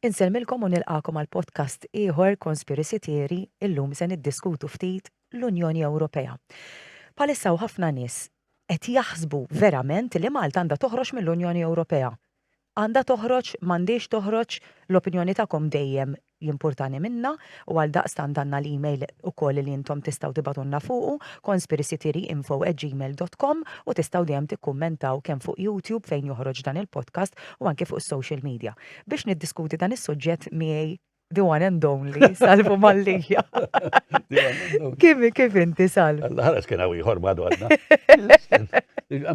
Insellmilkom u nilqagħkom għal podcast ieħor Conspiracy Theory, illum se niddiskutu ftit l-Unjoni Ewropea. Bħalissa hawn ħafna nies qed jaħsbu verament li Malta għandha toħroġ mill-Unjoni Ewropea. Għandha toħroġ, m'għandhiex toħroġ, l-opinjoni tagħkom dejjem jimpurtani minna u għaldaqstant għandna l-email ukoll li intom tistgħu tibgħatulna fuqu conspiracytheoryinfo@gmail.com u tistgħu dejjem tikkummentaw kemm fuq YouTube fejn joħroġ dan il-podcast u anke fuq is-social media. biex niddiskuti dan is-suġġett miegħi the one and only, salvu mallija. Kif kif inti salv? Ħares kien hawn ieħor madu għadna.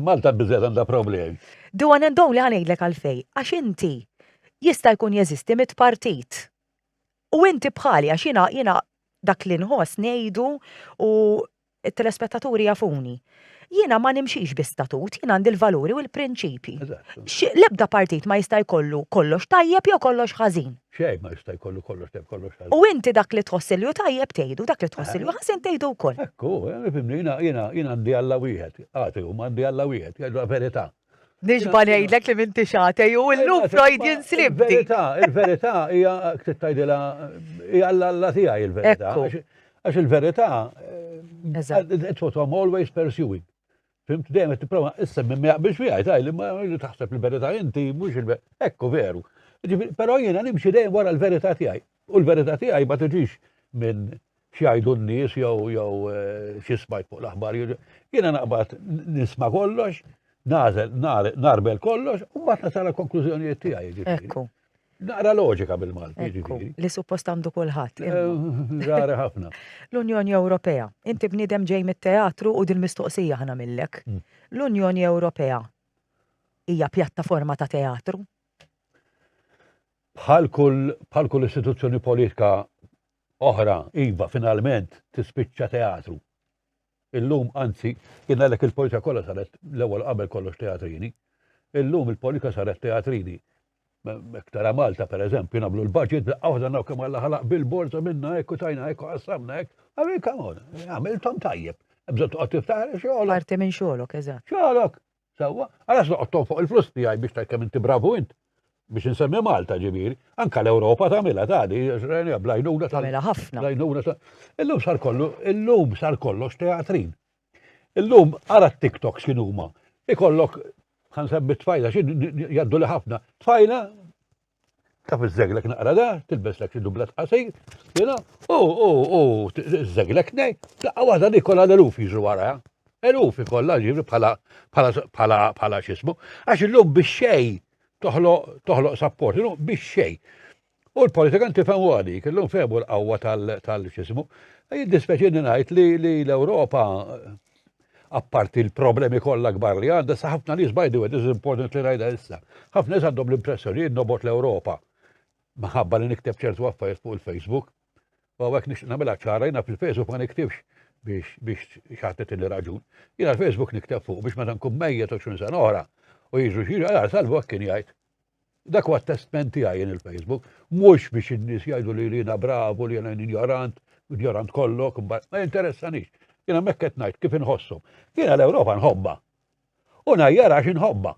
Malta biżed għandha problemi. The one and only ħanejdlek għalfej, għax inti jista' jkun jeżisti mit partit. U inti bħali għax jiena jiena dak li nħoss ngħidu u It-telespettaturi jafuni. Jiena ma nimxix bi statut, jien għandi l-valuri u l-prinċipji. L-ebda partit ma jista' jkollu kollox tajjeb jew kollox ħażin. Xejn ma jista' jkollu kollox tajjeb kollox ħażin. U inti dak li tħoss li hu tajjeb tgħidu, dak li tħoss li hu ħażin tgħidu wkoll. Hekk hu, jiena għandi Alla wieħed, agħti huma għandi Alla wieħed, jgħidu l-verità. Nixba ngħidlek li minti xatej u llum Freudian slip. Il-verità, il-verità hija tgħidilha hija l-alla tiegħi il-verità. Għax il-verità eh, it's what I'm always pursuing. Fimt dejjem qed tipprova issa minn biex wieħed għaj li ma taħseb il-verità inti mhux il-verità. Ekku veru. Però jiena nimxi dejjem wara l-verità tiegħi. U l-verità tiegħi ma tiġix minn x'jgħidu n-nies jew jew xi smajt fuq l-aħbar. Jiena naqbad nisma' kollox, nażel narbel kollox u mbagħad nasal konklużjonijiet tiegħi. Jiġifieri. Ekku. Naqra loġika bil-Malti, jiġifieri. Li suppost għandu kulħadd. Rari ħafna. L-Unjoni Ewropea. Inti bniedem ġej mit-teatru u dil-mistoqsija ħana millek. Mm. L-Unjoni Ewropea hija pjattaforma ta' teatru? Bħal kull istituzzjoni politika oħra, iva, finalment, tispiċċa teatru. Illum, anzi, jien għalhekk il-politika kollha saret l-ewwel qabel kollox teatrini. Illum il-politika saret teatrini. Mektara Malta, per eżempju, nagħmlu l-budget daqqa waħda naw kemm għalla ħalaq bil-borza minna hekk u tajna hekk u qassamna hekk. Għamil kamon, għamiltom tajjeb. Bżon toqgħod tiftaħar xogħolok. Parti minn xogħolok, eżatt. Xogħolok. Sewwa, għalax noqgħod tonfoq il-flus tiegħi biex tajt kemm inti bravu int biex insemmi Malta ġifieri, anka l-Ewropa tagħmilha tagħdi, rajna blajnuna tagħmilha ħafna. Blajnuna ta' illum sar kollu, illum sar kollox teatrin. Illum ara t-TikTok x'in huma. Ikollok ħan semmi tfajla x'in jgħaddu li ħafna. Tfajla taf iż-żeglek naqra da, tilbes lek xi dubla tqasir, jena, u, u, u, iż-żeglek nej, daqqa waħda li kollha l-eluf jiġru wara, eluf ikollha ġibri bħala bħala bħala xismu, għax illum biex xej toħloq sapport, illum biex xej. U l-politikan tifhem għadi, kellhom fehmu l-qawwa tal-xismu. Jiddispeċini ngħid li l-Ewropa apparti l-problemi kollha kbar li għandha, sa ħafna nies by the way, this is important li rajda issa. Ħafna nies għandhom l-impressjoni li nobot l-Ewropa maħabba li nikteb ċertu affarijiet fuq il-Facebook. U għawek nix namela ċara jina fil-Facebook ma niktibx biex biex xaħtet il raġun. Jina l-Facebook nikteb fuq biex ma tankun mejja ta' xun san oħra u jiġu xieġu, għal salvu għakkin jgħid. Dak huwa testment tiegħi jien il-Facebook, mhux biex in-nies jgħidu li jiena bravu, li jiena injorant, injorant kollok, ma jinteressanix. Jiena hemmhekk qed ngħid kif inħossom. Jiena l-Ewropa nħobba. U ngħajjar għax inħobba.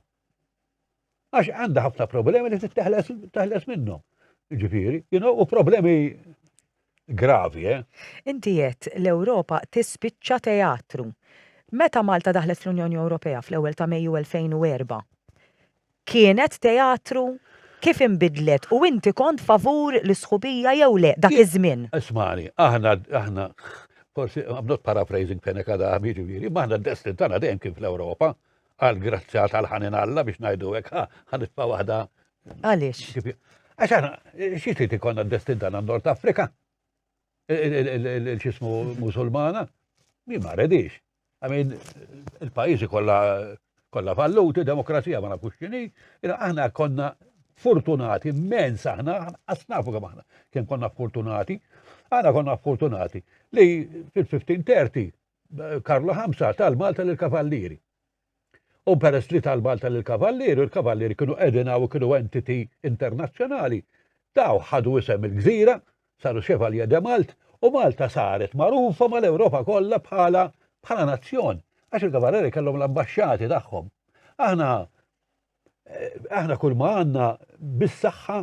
Għax għandha ħafna problemi li titteħles minnhom. Ġifieri, jiena u problemi Gravi, eh? Inti għedt l-Ewropa tispiċċa teatru. Meta Malta daħlet fl-Unjoni Ewropea fl-ewwel ta' Mejju 2004, kienet teatru? Kif inbidlet? U inti kont favur l-isħubija jew le dak iż-żmien? Ismani, aħna aħna forsi I'm not paraphrasing Fenech Adami ġifieri, ma aħna d-destin tagħna dejjem kien fl-Ewropa għal grazzja tal-ħanin Alla biex ngħidu hekk ħanitfa' waħda Għaliex? Għax għana, xie trid ikonna d-destin tagħna Nord Afrika? Il-ċismu musulmana? Mi ma redix. Għamin, il-pajizi kolla kolla falluti, demokrazija ma nafux xini, aħna konna fortunati, immens aħna, asnafu kem aħna, kem konna fortunati, aħna konna fortunati li fil-1530 Karlo Hamza tal-Malta l-Kavallieri. U peress li ta' l-Malta lill-Kavallieri u l-Kavallieri kienu qegħdin hawn u kienu entity internazzjonali, dawn ħadu isem il-gżira, saru Chevalier de Malte u Malta saret magħrufa mal-Ewropa kollha bħala bħala nazzjon għax il-Kavallieri kellhom l-ambaxxati tagħhom. Aħna eh, aħna kull ma għandna bis-saħħa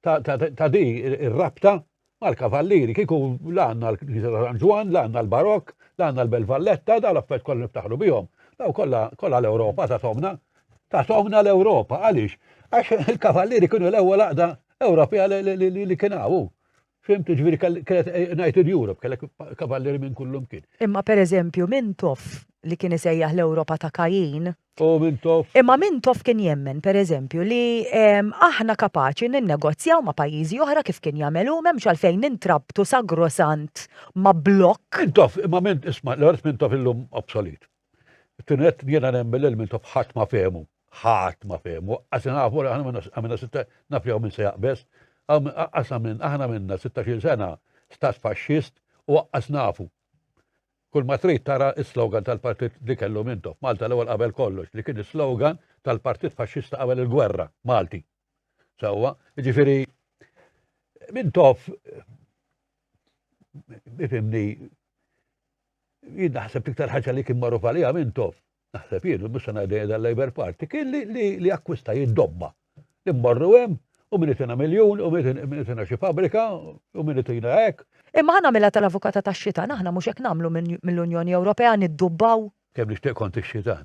ta' di ir-rabta mal-kavallieri, kieku la għandna l-Knisja ta' San Ġwan, la għandna l-Barok, la għandna l-Bel Valletta, da l-affett kollu niftaħlu bihom. Daw kollha l-Ewropa ta' tomna. Ta' tomna l-Ewropa, għaliex? Għax il-kavallieri kienu l-ewwel għaqda Ewropea li kien hawn. Fimtu, ġviri, kellet eh, United Europe, kellek kavalleri minn kullum kien. Imma per eżempju, Mintoff li kien isejjaħ l-Ewropa ta' Kajin. U Mintoff. Imma Mintoff kien jemmen, per eżempju, li ehm, aħna kapaċi ninnegozjaw ma' pajjiżi oħra kif kien jagħmelu m'hemmx għalfejn nintrabtu sagrosant ma' blokk. Mintoff, imma minn isma' l-art Mintoff illum obsolit. Tinet jiena nemmen li l-Mintoff ħadd ma fehmu. Ħadd ma fehmu. Qas nafu li aħna għamilna sitta naf jew minn se jaqbes. Qas minn aħna minna 16 sena stat faxxist u qas nafu. Kull ma trid tara is-slogan tal-partit li kellu Mintoff. Malta l-ewwel qabel kollox li kien is-slogan tal-partit faxxista qabel il-gwerra Malti. Sewwa, ġifieri Mintoff ifimni Jien naħseb l-iktar ħaġa li kien magħruf għaliha Mintoff, naħseb jien, mhux se ngħidha jidha l-Labour Party, kien li akkwista jiddomma. Immorru hemm, u min itina miljun, u min itina xi fabbrika, u min itina hekk. Imma ħa nagħmilha tal-avukata tax-xitan, aħna mhux hekk nagħmlu mill-Unjoni Ewropea, niddubbaw? Kemm nixtieq kont ix-xitan.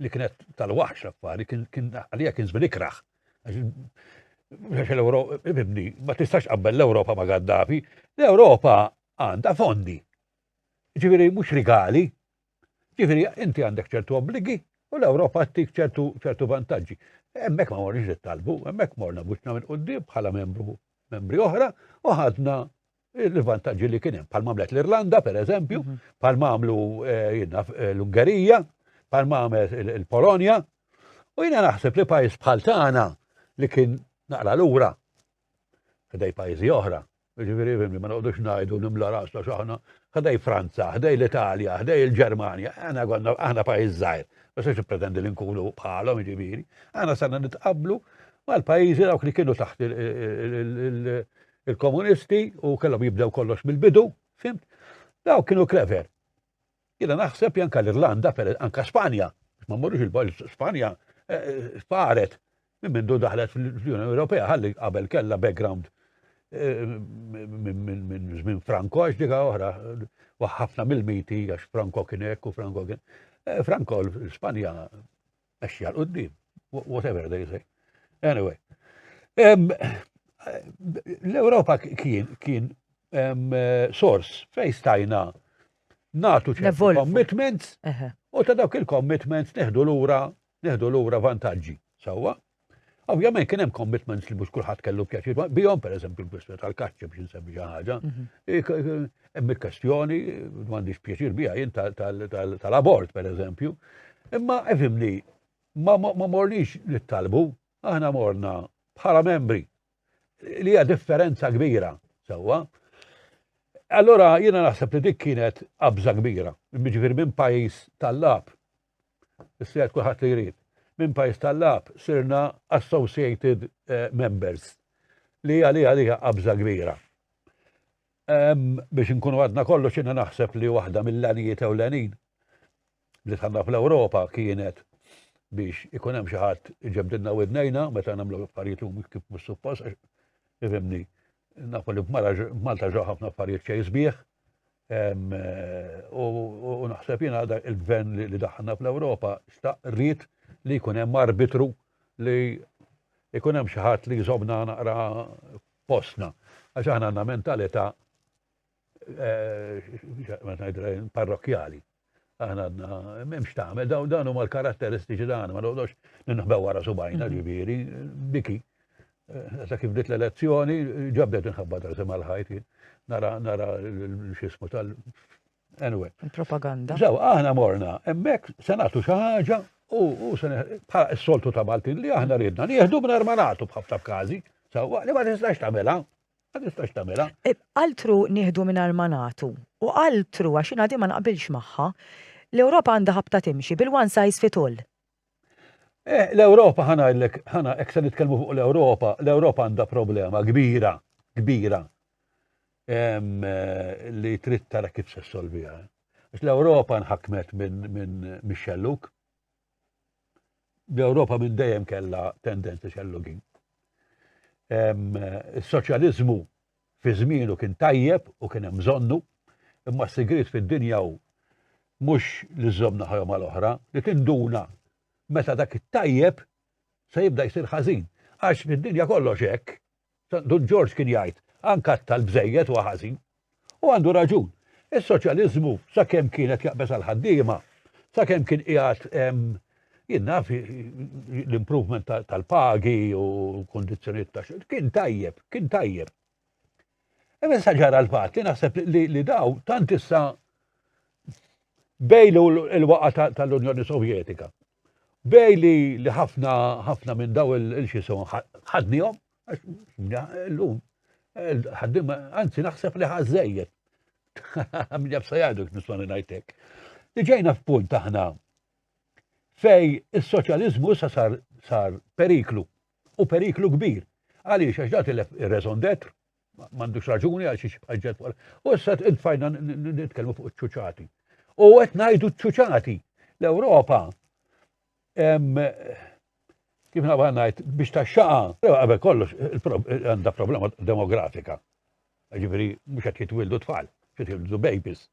li kienet tal-waħx affari, għalija kien żmien ikraħ. Għax l-Ewropa, ibni, ma tistax qabbel l-Ewropa ma' Gaddafi, l-Ewropa għandha fondi. Ġifieri mhux rigali, ġifieri inti għandek ċertu obbligi u l-Ewropa għattik ċertu vantaġġi. Hemmhekk ma morniex nittalbu, hemmhekk morna buċna minn qudiem bħala membru membri oħra u ħadna l-vantaġġi li kien hemm, bħal għamlet l-Irlanda pereżempju, mhm. bħal għamlu eh, eh, l-Ungerija, bħal għamlet il-Polonja. U jiena naħseb li pajjiż bħal tagħna li kien naqra lura ħdej pajjiżi oħra. Ġifieri fimni ma noqgħodux ngħidu nimla rasna x'aħna ħdej Franza, ħdej l-Italja, ħdej il-Ġermanja, aħna konna aħna pajjiż żgħir, biex għax pretendi li nkunu bħalhom ġifieri. Aħna sanna nitqablu mal-pajjiżi dawk li kienu taħt Il-komunisti u kellhom jibdew kollox mill-bidu, fimt? Daw kienu clever. Jiena naħseb janka l-Irlanda, per anka Spanja, ma mmorrux il-bol Spanja eh, faret minn mindu daħlet fl-Unjoni Ewropea ħalli qabel kellha background eh, minn żmien Franco għax dika oħra ħafna mill-miti għax Franco kien hekk u Franco kien. Eh, Franco l-Spanja Għaxxi għal qoddim, whatever they say. Anyway, l-Europa kien kien sors fej stajna natu ċertu commitments u ta' dawk il-commitments neħdu lura neħdu lura vantaġġi. Sawa? Ovvjament kien hemm commitments li mhux kulħadd kellu pjaċir bihom, pereżempju l-kwistjoni tal-kaċċi biex insemmi xi ħaġa. Mhm. Hemm il-kwestjoni m'għandix pjaċir biha jien tal-abort pereżempju. Imma efimni, ma morniex nittalbu, aħna morna bħala membri li hija differenza kbira sewwa. Allora jiena naħseb li dik kienet qabża kbira, jiġifieri minn pajjiż tal-lab Is-sejħet kulħadd li jrid. Minn pajjiż tal-lagħab sirna associated members li għalija li hija qabża kbira. Biex inkunu għadna kollox jiena naħseb li waħda mill-għanijiet ewlenin li tħanna fl-Ewropa kienet biex ikun hemm xi ħadd iġebdilna widnejna meta nagħmlu affarijiet li kif mhux suppost għax ifhimni Nafu li Malta ġew ħafna affarijiet xejn sbieħ. U naħseb jiena il-gvern li daħħalna fl-Ewropa xtaq rrid li jkun hemm arbitru li jkun hemm xi ħadd li jżobna naqra postna. Għax aħna għandna mentalità parrokjali. Aħna għadna, memx tagħmel, dawn dawn huma l-karatteristiċi tagħna, ma noqgħodx ninħbew wara subajna mhm. ġifieri, diki. Eh, sa kif bdiet l-elezzjoni, ġabdet inħabba tal sema l-ħajt, nara nara l-xismu tal. Anyway. Propaganda. Zaw, aħna morna, emmek se nagħtu xi ħaġa u se bħala s-soltu ta' Maltin li aħna ridna, nieħdu minn armanatu bħafta f'każi, sawa li ma tistax tagħmilha. Ma tistax tagħmilha. E, altru nieħdu mingħajr ma nagħtu. U altru għax jiena ma naqbilx magħha. L-Ewropa għandha ħabta timxi bil-one size fit all. Eh, L-Ewropa ħanajlek, ħana hekk se nitkellmu fuq l-Ewropa, l-Ewropa għandha problema kbira, kbira eh, li trid tara kif se solvija. Għax l-Ewropa nħakmet minn Michel Luke L-Ewropa minn dejjem kellha tendenzi xellugin. Is-soċjaliżmu fi żmienu kien tajjeb u kien hemm bżonnu, imma s-sigriet fid-dinja hu mhux li żżomm naħa mal oħra, li tinduna meta dak it-tajjeb se jibda jsir ħażin. Għax fid-dinja kollox hekk. Dun Ġorġ kien jgħid, Ankatta l-bżejjed huwa ħażin. U għandu raġun. Is-soċjaliżmu, sakemm kien qed jaqbeż għall-ħaddiema, sakemm kien qiegħed jien naf l-improvement tal-pagi u kondizzjonijiet ta' xogħol, kien tajjeb, kien tajjeb. Imma issa ġara l-fatt li naħseb li daw tant issa bejlu l-waqa tal-Unjoni Sovjetika. B'hej li li ħafna ħafna minn daw il-xisum ħadnihom, l-lum, ħaddim, anzi naħseb li ħażżejjed. Min jabsa jgħidu nismani ngħidlek. Li ġejna f'punt aħna fej is-soċjaliżmu issa sar sar periklu u periklu kbir. Għaliex għax dat il-raison d'être M'għandux raġuni għal xiex jibqa' ġed fuq. U issa tfajna nitkellmu fuq iċ-ċuċati. U qed ngħidu ċ-ċuċati. L-Ewropa kif nabgħa ngħid biex taxxaqa, qabel kollox għandha problema demografika. Ġifieri mhux qed jitwildu tfal, qed jitwildu babies.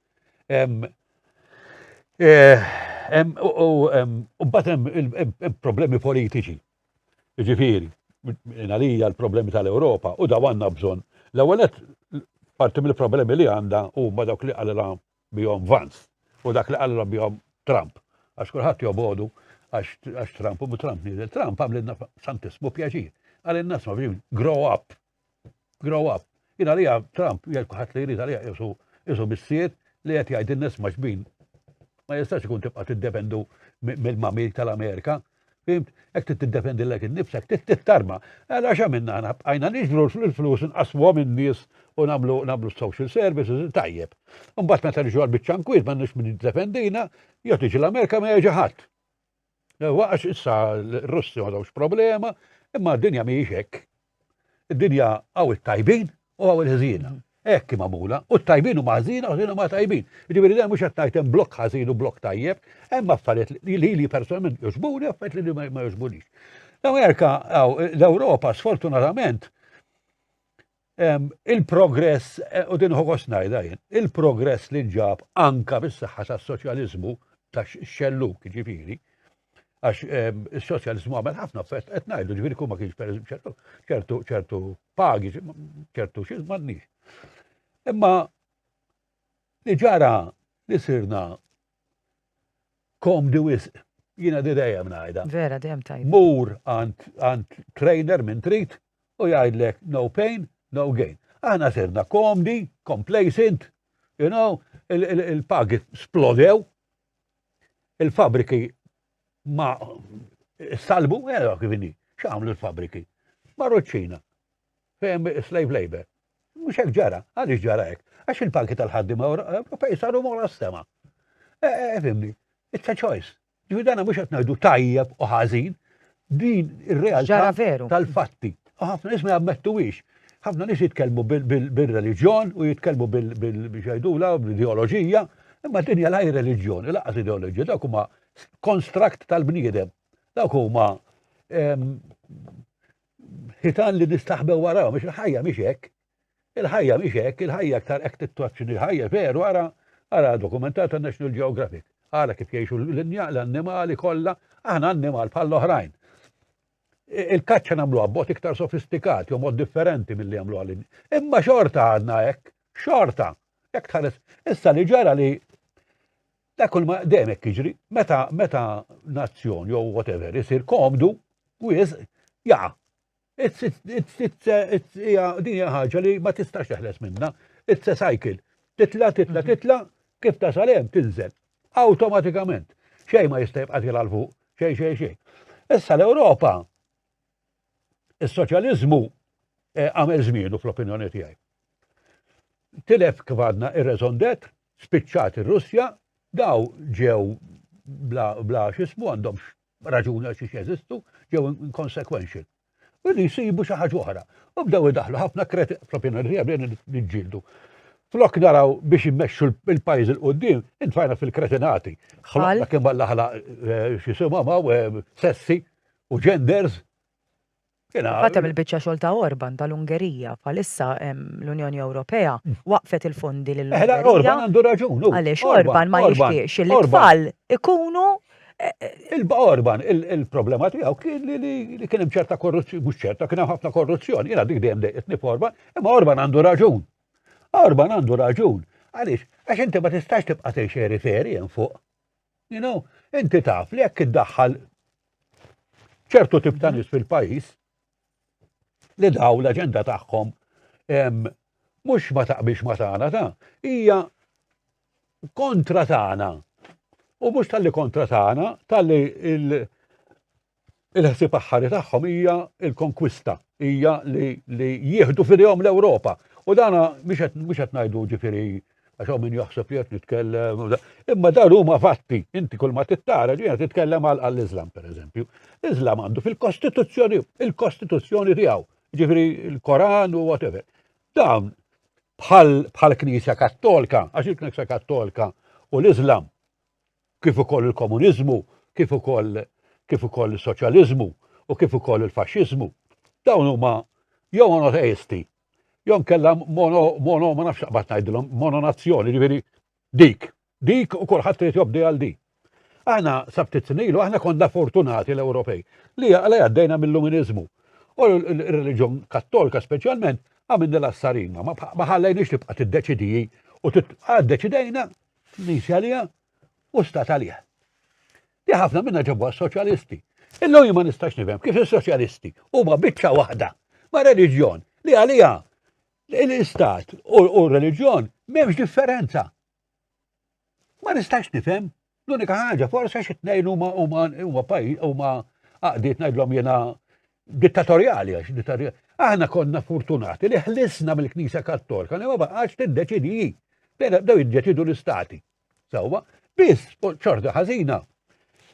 Eh, u bat hemm problemi politiċi. Jiġifieri, minn għalija l-problemi tal-Ewropa u daw għandna bżonn. L-ewwel nett, parti mill-problemi li għandha huma dawk li qalilha bihom Vance u dak li qalilha bihom Trump. Għax kulħadd jobogħdu għax Trump u Trump nieżel. Trump għamlilna santissmu pjaċir. Qalilna sma grow up, Grow up. Jien għalija Trump jgħid kulħadd li jrid għalija qisu qisu missier li qed jgħid in-nies ma' xbin. Ma jistax ikun tibqa' tiddependu mill-mami tal-Amerika. Fimt? Hekk trid tiddefendi lek innifsek, trid tittarma. Għala x'għamilna aħna bqajna niġbru l-flus inqasmuhom in-nies u nagħmlu nagħmlu social services tajjeb. Imbagħad meta niġu għall-biċċa nkwiet m'għandniex min jiddefendina, jew tiġi l-Amerika ma jeġi ħadd. Għax issa l-Russi m'għadhomx problema, imma d-dinja mhijiex hekk. Id-dinja hawn it-tajbin u hawn il-ħżiena. Hekk hi magħmula, u t-tajbin huma ħżiena u ħżiena ma tajbin. Jiġifieri dan mhux qed ngħid hemm blokk ħażin u blokk tajjeb, hemm affarijiet li li personalment jogħġbuni u affarijiet li ma jogħġbunix. L-Amerika, l-Ewropa, sfortunatament, Il-progress, u din ħogost ngħidha jien, il-progress li nġab anka bis-saħħa tas-soċjaliżmu tax-xelluk, ġifieri, għax is-soċjaliżmu għamel ħafna fest, qed ngħidu ġifieri kull ma kienx pereżempju ċertu ċertu pagi, ċertu xi m'għandniex. Imma li ġara li sirna Komdi wisq. Jiena di dejjem ngħidha. Vera dejjem tajba. Mur għand trainer minn trid u jgħidlek no pain, no gain. Aħna sirna komdi, complacent, you know, il-pagi splodew, il-fabriki ma salbu, għera eh, kivini, xamlu l-fabriki. Marru ċina, Fejn slave labor. Mhux hekk ġara, għaliex ġara hekk? Għax il-pagi tal-ħaddiema Ewropej saru mora s-sema. Eh, eh, eh, fimni, it's a choice. Ġifi dana mhux qed ngħidu tajjeb u ħażin, din ir-realtà tal-fatti. U ħafna nies ma jammettuwix. Ħafna nies jitkellmu bil-reliġjon u jitkellmu bil-xajdula u bil-ideoloġija, imma din hija laj reliġjon, laqas ideoloġija, dak huma konstrakt tal-bniedem. Dak huma Ħitan li nistaħbew warahom, għax il-ħajja mhix hekk. Il-ħajja mhix hekk, il-ħajja aktar hekk tittoċċi li l-ħajja veru ara ara dokumentat ta' National Geographic. Ara kif jgħixu l-annimali kollha, aħna annimal bħall-oħrajn. Il-kaċċa nagħmlu abbot iktar sofistikat, jew mod differenti mill-li jagħmlu għalin. Imma xorta għadna hekk, xorta. Jekk tħares, issa li ġara li Da kull ma dejjem hekk jiġri, meta meta nazzjon jew whatever isir komdu wis jaqa. Din hija ħaġa li ma tistax teħles minna. It's a cycle. Titla, titla, mhm. titla, kif ta' salem tinżel. Awtomatikament. Xej ma jista' jibqa' tila l fuq, xej xej xej. Issa l-Ewropa Is-soċjaliżmu eh, għamel żmienu fl-opinjoni tiegħi. Tilef kif għadna ir-raison d'être, spiċċat ir-Russja, daw ġew bla, bla xismu għandhom raġuni għax xiex jeżistu, ġew inconsequential. U li jisibu xi ħaġa oħra. U bdew idaħlu ħafna kreti fl-opinjoni tiegħi bdejna niġġieldu. Flok naraw biex immexxu l-pajjiż il qoddim intfajna fil-kretinati. Ħloqna kemm għalla ħala eh, xi simgħu eh, sessi u genders Fatem il-bicċa xol ta' Orban tal-Ungerija, palissa l-Unjoni Ewropea mm. waqfet il-fondi l eh, Orban għandu raġun. Għalix Orban ma jixtiex li tfal ikunu. Eh, eh, Il-Orban, il-problema tiegħu kien li kien hemm ċerta korruzzjoni, mhux ċerta, kien hemm ħafna korruzzjoni, jiena dik dejjem dejqitni f'Orban, imma Orban għandu raġun. Orban għandu raġun. Għaliex, għax inti ma tistax tibqa' tgħix eri feri hemm fuq. You know, inti taf li jekk iddaħħal ċertu tip ta' nies fil-pajjiż li daw l-aġenda tagħhom mhux ma taqbilx ma tagħna ta' hija kontra tagħna. U mhux tal-li kontra tagħna, tal-li il-ħsieb aħħari tagħhom hija l-konkwista, hija li, li jieħdu fidejhom l-Ewropa. U dana mhux qed ngħidu ġifieri għax hawn min jaħseb li qed nitkellem. Imma dan huma fatti, inti kull ma tittara ġiena titkellem għal għall-Iżlam pereżempju. Iżlam għandu fil-Kostituzzjoni, il-Kostituzzjoni tiegħu, ġifieri l-Koran u whatever. Dan bħal bħal Knisja Kattolka, għax il-Knisja Kattolka u l-Iżlam kif ukoll il-komuniżmu, kif ukoll kif ukoll is-soċjaliżmu u kif ukoll il-faxxiżmu, dawn huma jew monoteisti, jew nkella mono, mono ma nafx naqbad ngħidilhom, mononazzjoni, ġifieri dik, dik u kulħadd irid jobdi għal dik. Aħna sabtit snilu, aħna konna fortunati l-Ewropej li għala għaddejna mill-Luminiżmu. U l-reliġjon kattolka speċjalment għamilni l-assarina, ma ħallejniex tibqa' tiddeċidiji u għad deċidejna Nisi għalija u stat għalija. Li ħafna minna ġabu għas-soċjalisti. Illum ma nistax nifhem kif is-soċjalisti huma biċċa waħda ma' reliġjon li għalija l-istat u r-reliġjon m'hemmx differenza. Ma nistax nifhem l-unika ħaġa forse xi tnejn huma huma huma pajjiż huma għaqdiet ngħidlhom jiena dittatorjali għax dittatorjali. Aħna konna fortunati li ħlisna mill-Knisja Kattolika li ma baqax tiddeċidi hi. Bdejna bdew jiddeċidu l-istati. Sewwa, biss ċorta ħażina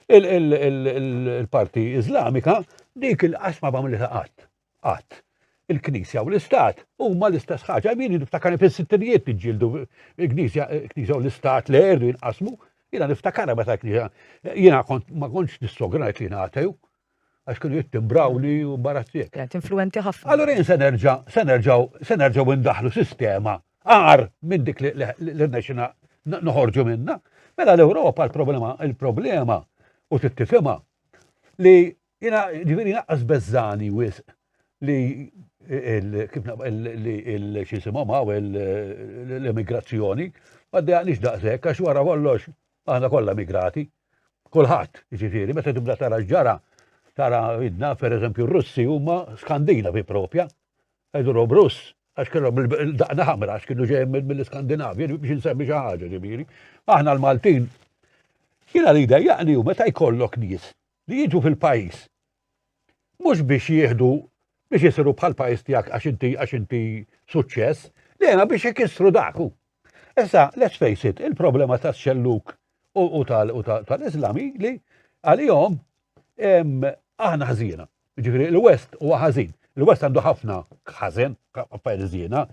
il-parti Iżlamika dik il-qasma bam li taqat. Qatt. Il-Knisja u l-Istat huma l-istess ħaġa. Min niftakar fis-sittinijiet tiġġieldu il-Knisja u l-Istat li erdu jinqasmu. Jiena niftakar meta l-Knisja. Jiena ma kontx nissogra li jiena għatew. għax kienu jittimbrawli u barazzjek. Kienet influenti ħafna. Allora jien se nerġa' se nerġgħu se nerġgħu ndaħlu sistema għar minn dik li rnexxina noħorġu minna. Mela l-Ewropa l-problema il-problema u tittifhimha li jiena ġifieri naqqas beżani wisq li kif il-xisimhom hawn l-immigrazzjoni ma dejaqniex daqshekk għax wara kollox Aħna kollha emigrati, kulħadd, jiġifieri meta tibda tara x'ġara, tara idna, pereżempju r-Russi huma Skandinavi propja, qegħdulhom Russ, għax kellhom il-daqna ħamra għax kienu ġejjem mill-Iskandinavja, biex insemmi xi ħaġa ġifieri. Aħna l-Maltin jiena li jdejjaqni hu meta jkollok nies li jiġu fil-pajjiż Mhux biex jieħdu biex isiru bħal pajjiż tiegħek għax inti għax inti suċċess, dejjem biex ikissru dak. Issa, let's face it, il-problema ta' xelluk u tal-Islami li għalihom aħna ħażina. Ġifieri l-West huwa ħażin. Il-West għandu ħafna ħażen, perżina,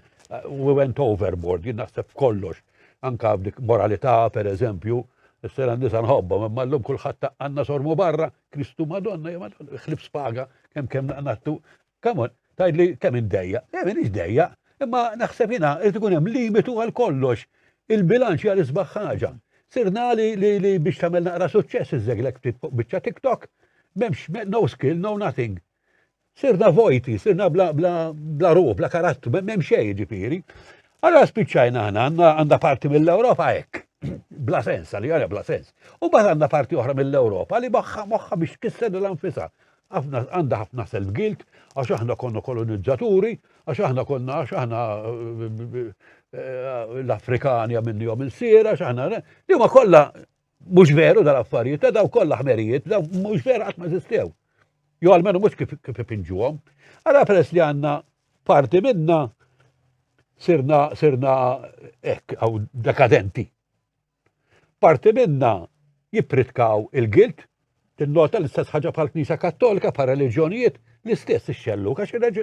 we went overboard, jien naħseb kollox, anka dik moralità, per eżempju, s-sena nisa nħobbom, imma l-lum kullħat għanna sormu barra, Kristu Madonna, ja Madonna, xlib spaga, kem kem naqnattu. Kamon, tajd li kem indejja, kem indejja, imma naħseb jina, irrid ikun hemm limitu għal kollox. Il-bilanċ għal isbaħ ħaġa. Sirna li li biex tagħmel naqra suċċess iżeglek ftit fuq biċċa TikTok, m'hemmx no skill, no nothing. Sirna vojti, sirna bla, bla, bla ruħ, bla karattru, m'hemm xejn ġifieri. Allora spiċċajna aħna għandha parti mill-Ewropa hekk. Bla sens, għalli għalja bla sens. U bad għandha parti oħra mill-Ewropa li moħħa moħħa biex kisser l-anfisa. Għandha ħafna self-guilt, għax aħna konna kolonizzaturi, għax aħna konna għax aħna eh, eh, l-Afrikani għamilni għom il-sira, għax aħna li huma kollha Mhux veru dal-affarijiet, ta' daw kollha ħmerijiet, daw mhux veru qatt ma żistew. Jo għalmenu mhux kif kif ipinġuhom. Ara peress li għandna parti minna sirna sirna hekk għaw dekadenti. Parti minna jippritkaw il-gilt, tinnota l-istess ħaġa bħal Knisja Kattolika, bħal reliġjonijiet, l-istess ix-xelluk, għax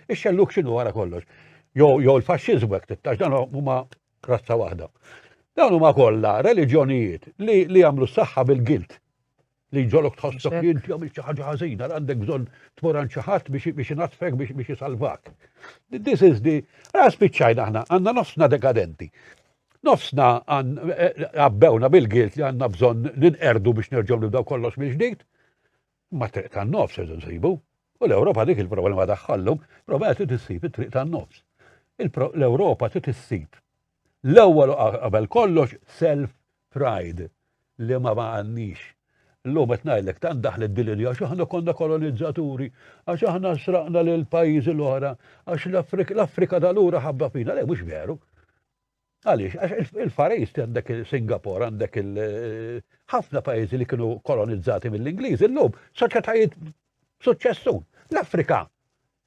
ix-xelluk x'inhu wara kollox. Jo l-faxxiżmu hekk tittax dan huma Razza waħda. Dawn huma kollha reliġjonijiet li li jagħmlu s-saħħa bil-gilt. Li ġolok tħossok li inti għamilt xi ħaġa ħażina, għandek bżonn tmur għand xi ħadd biex biex inaddfek biex biex isalvak. This is the għas spiċċajna aħna għandna nofsna dekadenti. Nofsna għabbewna eh, bil-gilt li għandna bżonn ninqerdu biex nerġgħu nibdew kollox mill-ġdid. Mat-triq tan-nofs irridu nsibu. U l-Ewropa dik il-problema tagħha llum, problema trid issib it-triq tan-nofs. L-Ewropa trid issib l-ewwel qabel kollox self pride li ma għandniex. Llum qed ngħidlek tant daħlet din l-idea għax aħna konna kolonizzaturi, għax aħna sraqna lill-pajjiżi l-oħra, għax l-Afrika tal-ura ħabba fina, le mhux veru. Għaliex? Għax il-Far East għandek Singapore, għandek ħafna pajjiżi li kienu kolonizzati mill-Ingliż, illum soċjetajiet suċċessun. L-Afrika,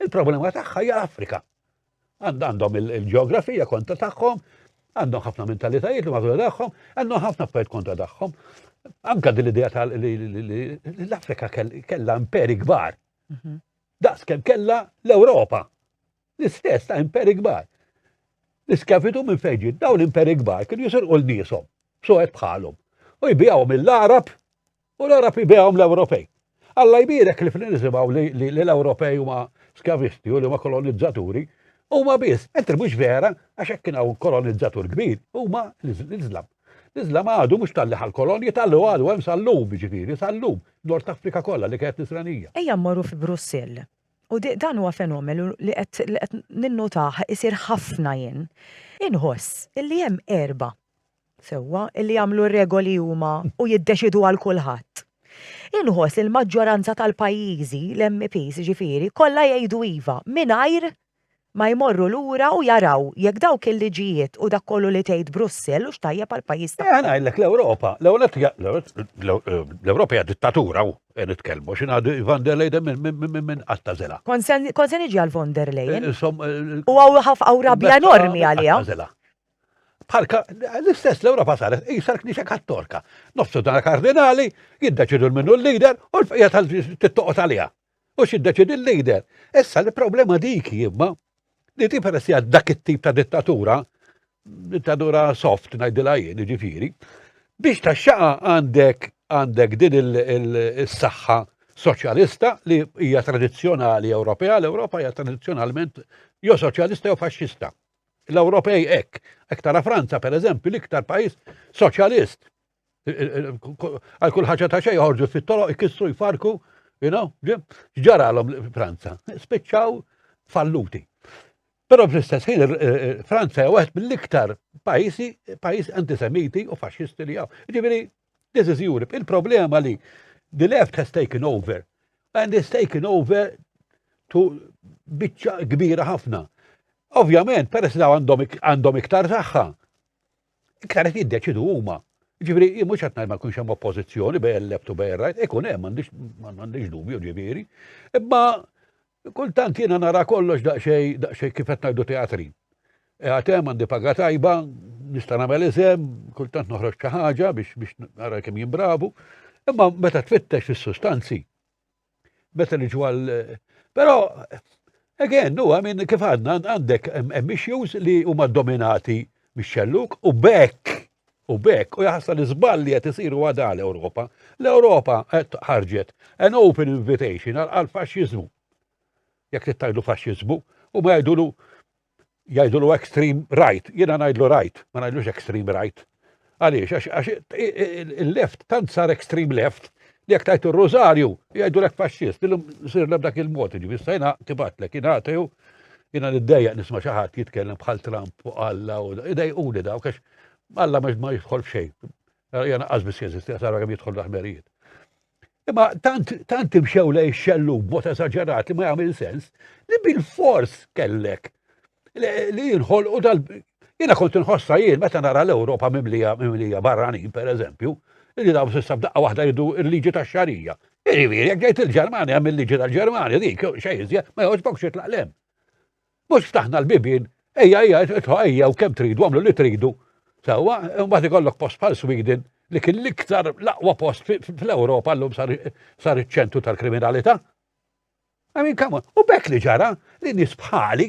il-problema tagħha hija l-Afrika. Għandhom il-ġeografija kontra tagħhom, għandhom ħafna mentalitajiet li mażura tagħhom, għandhom ħafna affarijiet kontra tagħhom. Anka din l-idea tal l-Afrika kellha imperi kbar. Mhm. Daqs kemm kellha l-Ewropa. l-istess ta' imperi kbar. L-iskavitu minn fejġi, daw l-imperi kbar kienu jisirqu l-nisom, soħet bħalhom, u jbijawhom mill-Arab u l-Arab jbijawhom l-Ewropej. Alla jbirek li fl nisimaw li l-Ewropej huma skavisti u li huma kolonizzaturi, huma biss, mentri mhux vera, għax hekk kien hawn kolonizzatur kbir, huma l-Iżlam. L-Iżlam għadu mhux talli ħal kolonji talli għadu hemm sal-lum, ġifieri, sal-lum, Nord Afrika kollha li kienet Nisranija. Ejja mmorru fi Brussell. u dan huwa fenomenu li qed ninnotah isir ħafna jien, inħoss illi hemm erbgħa sewwa illi jagħmlu r-regoli huma u jiddeċiedu għal kulħadd. Inħoss li l-maġġoranza tal-pajjiżi, l-MEPs jiġifieri, kollha jgħidu iva mingħajr ma jmorru lura u jaraw jekk dawk il-liġijiet u dak kollu li tgħid Brussell hux tajjeb għall-pajjiż tagħhom. Eħe ngħidlek l-Ewropa, l-ewwel nett hija l-Ewropa hija dittatura u qed nitkellmu għax jien għandi von der Leyden minn qatt tagħżilha. Kont se kont se niġi għal von der Leyen. U hawn rabja enormi għaliha. Bħal l-istess l-Ewropa saret qisha l-Knisja Kattorka. Nofsu dan kardinali jiddeċidu minnu l-lider u l-bqija tal-tittoqgħod għaliha. U x'iddeċiedi l-leader? Issa li problema dik imma li ti peress għad dak it-tip ta' dittatura, dittatura soft ngħidilha jien, ġifieri, biex ta' xaqa għandek għandek din il-saħħa soċjalista li hija tradizzjonali Ewropea, l-Ewropa hija tradizzjonalment jo soċjalista jo faxxista. L-Ewropej hekk, hekk tara Franza pereżempju l-iktar pajjiż soċjalist Għal kull ħaġa ta' xejn joħorġu fit-toroq ikissru jfarku, you know, ġaralhom Franza. Spiċċaw falluti. Però fl-istess ħin Franza hija waħed mill-iktar pajjiżi pajjiż antisemiti u faxxisti li hawn. Ġifieri, this is Europe. Il-problema li the left has taken over and is taken over to biċċa kbira ħafna. Ovvjament, peress li għandhom iktar saħħa, Iktar qed jiddeċidu huma. Ġifieri jien mhux qed ngħid ma jkunx hemm oppożizzjoni bejn left u bejn right, ikun hemm m'għandix dubju ġifieri. Imma kultant jiena nara kollox daqsxejn daqsxejn kif qed ngħidu teatri. E għatem għandi paga tajba, nista' nagħmel iżem, kultant noħroġ xi ħaġa biex biex nara kemm jimbravu, imma meta tfittex fis-sustanzi Meta niġu għal. Però, again, huwa minn kif għadna għandek hemm issues li huma dominati mix-xelluk u bekk u bekk u jaħsal iżball li qed isiru għadha l-Ewropa. L-Ewropa qed ħarġet an open invitation għal faxxiżmu. Jekk tittajdu faxxiżmu u ma jgħidulu jgħidulu extreme right, jiena ngħidlu right, ma ngħidlux extreme right. Għaliex, għax il-left tant sar extreme left li jekk tajtu r-rużarju jgħidu lek faxxist, illum sir dak il-mod, ġifi stajna tibatlek, jina għatiju, jina niddejja nisma xaħat jitkellem bħal Trump u Alla u idej u li daw, kax Alla ma jidħol f'xej. Jena għazbis jeżisti, għasara għam jidħol l-ħmerijiet. Imma tant, tant imxew lej xellu b'mod esaġerat li ma jagħmel sens li bil-fors kellek li jinħolqu dal Jiena kont inħossa jien meta nara l-Ewropa mimlija mimlija barranin pereżempju, li dawn s'issa b'daqqa waħda jridu l-liġi tax-xarija. Jiġifieri jekk ġejt il-Ġermanja hemm il-liġi tal-Ġermanja dik xejn iżjed ma jogħġbok xi tlaqlem. Mhux ftaħna l-bibien, ejja ejja idħlu ejjew kemm tridu għamlu li tridu. Sewwa, imbagħad ikollok post bħal Sweden li kien l-iktar l-aqwa post fl-Ewropa llum sar iċ-ċentru tal-kriminalità. I mean, come on, u bekk li ġara li nies bħali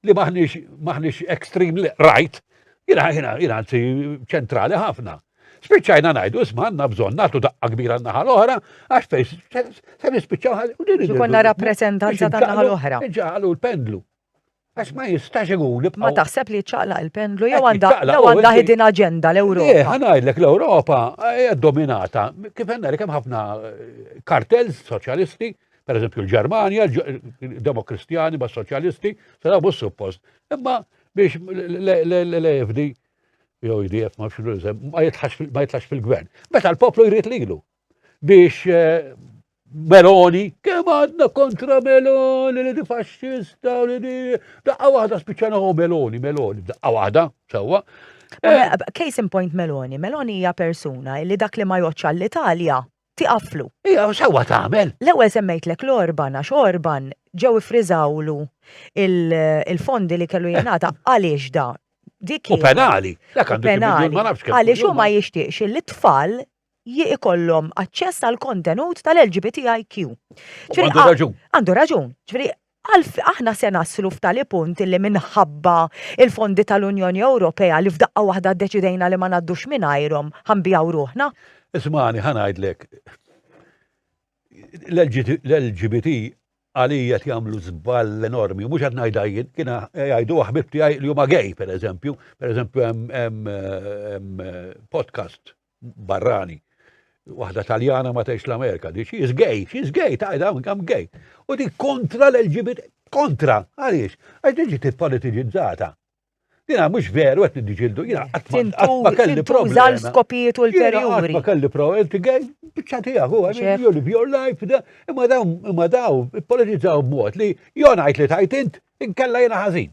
li maħniex extreme right, jina jina jina ċentrali ħafna. Spiċċajna ngħidu isma' għandna bżonn nagħtu daqqa kbira n-naħa l-oħra għax fejn se nispiċċaw ħalli u din Ġikonna rappreżentanza tan-naħa l-oħra. Ġalu l-pendlu. Għax ma jistax ikun Ma taħseb li ċaqla il-pendlu jew għandha jew għandha ħidin aġenda l-Ewropa. Eh, ħanajdlek l-Ewropa hija dominata. Kif għandna kemm ħafna eh, kartels soċjalisti, per eżempju l-Ġermanja, demokristjani ma soċjalisti, se bussu post. Imma biex l-EFD jew IDF ma ma jitlax fil-gvern. Meta l-poplu jrid lilu biex eh, Meloni, kemm għadna kontra Meloni li di faxxista li di. Daqqa waħda spiċċana u Meloni, Meloni, daqqa waħda, sewwa. Eh, eh, case in point Meloni, Meloni hija persuna li dak li ma joċċa l-Italja tiqaflu. Ija, xewwa tagħmel? L-ewwel semmejtlek l-Orban għax Orban ġew ifriżawlu il-fondi li kellu jingħata għaliex da. Dik U penali. Dak għandu penali. Għaliex hu ma jixtieqx li tfal ikollhom aċċess għal kontenut tal-LGBTIQ. Għandu raġun. Għandu raġun. Ġifieri Qal, Aħna se naslu f'tali punt illi minħabba l-fondi tal-Unjoni Ewropea li f'daqqa waħda ddeċidejna li ma ngħaddux mingħajrhom, ħa nbigħu ruħna. Ismagħni ħa ngħidlek, l-LGBT għalija qed jagħmlu żball enormi, mhux qed ngħidha jien, kien jgħiduha ħbib tiegħi li huma gay pereżempju, pereżempju hemm podcast barrani. Waħda taljana ma tgħix l-Amerika, di xi gay, xi gay, ta' dawn kam gay. U di kontra l-LGBT, kontra, għaliex, għax diġi t-politiġizzata. Dina mux veru għet nidġildu, jina għatma kelli problema. Zal skopijiet u l-perjuri. Għatma kelli problema, inti għaj, bċati għu, għaj, you live your life, da, imma daw, imma daw, politizzaw b-mot li jonajt li tajtint, inkella jina ħazin.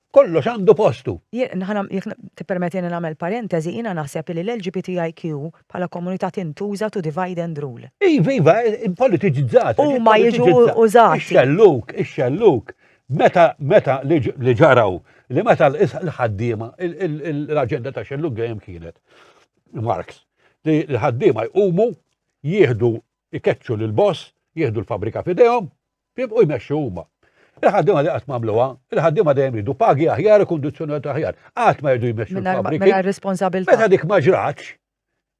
Kollox għandu postu. Jekk tippermettili nagħmel parentesi, jiena naħseb li l-LGBTIQ bħala komunità tintuża to divide and rule. Iva, iva, politiċizzata. Huma jiġu użati. Ix-xelluk, ix-xelluk. Meta, meta li ġaraw, li meta l-ħaddiema, l-aġenda ta' xelluk dejjem kienet Marx, li l-ħaddiema jqumu, jieħdu, ikeċċu l-boss, jieħdu l-fabrika fidejhom, Jibqgħu jmexxu huma. Il-ħaddiema li qatt m'għamluha, il-ħaddiema dejjem jridu pagi aħjar u kundizzjonijiet aħjar. Qatt ma jridu jmexxu l-fabriki. Mela responsabilità. Meta dik ma ġratx,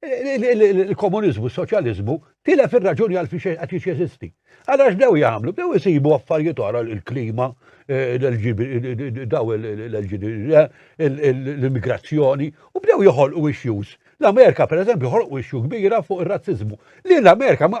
il-komuniżmu, soċjaliżmu, tilef ir-raġuni għal fiex qed jeżisti. Allora x'dew jagħmlu? Dew isibu affarijiet oħra il-klima, daw l-immigrazzjoni u bdew joħolqu issues. L-Amerika pereżempju joħolqu issue kbira fuq ir-razziżmu. Li l-Amerika ma